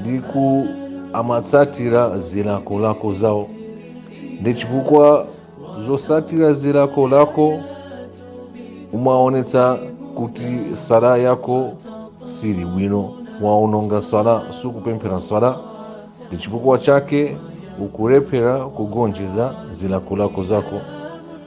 ndipo amatsatira zilakolako zawo ndi chifukwa chotsatira zilakolako umaonetsa kuti sala yako sili bwino waononga sala sukupemphera sala ndi chifukwa chake ukulephera kugonjeza zilakolako zako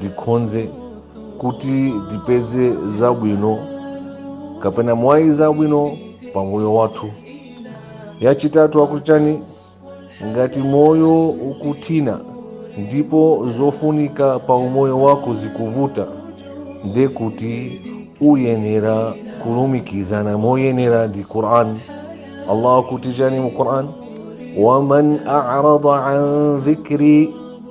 tikonze kuti tipeze zabwino kapena mwayi zabwino pa moyo wathu yachitatu akuti chani ngati moyo ukuthina ndipo zofunika pa umoyo wako zikuvuta nde kuti uyenera kulumikizana moyenera ndi quran allah akuti chani mu quran waman arada an dhikri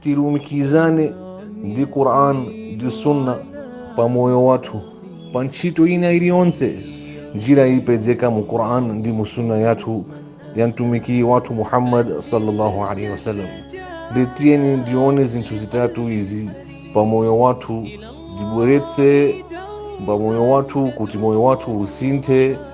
tilumikizane ndi quran ndi sunna pa moyo wathu pa ntchito ina iliyonse njira ipezeka mu quran ndi mu sunna yathu ya mtumiki wathu muhammad sallallahu alaihi wasallam nde tiyeni tione zinthu zitatu izi pa moyo wathu tibweretse pa moyo wathu kuti moyo wathu usinthe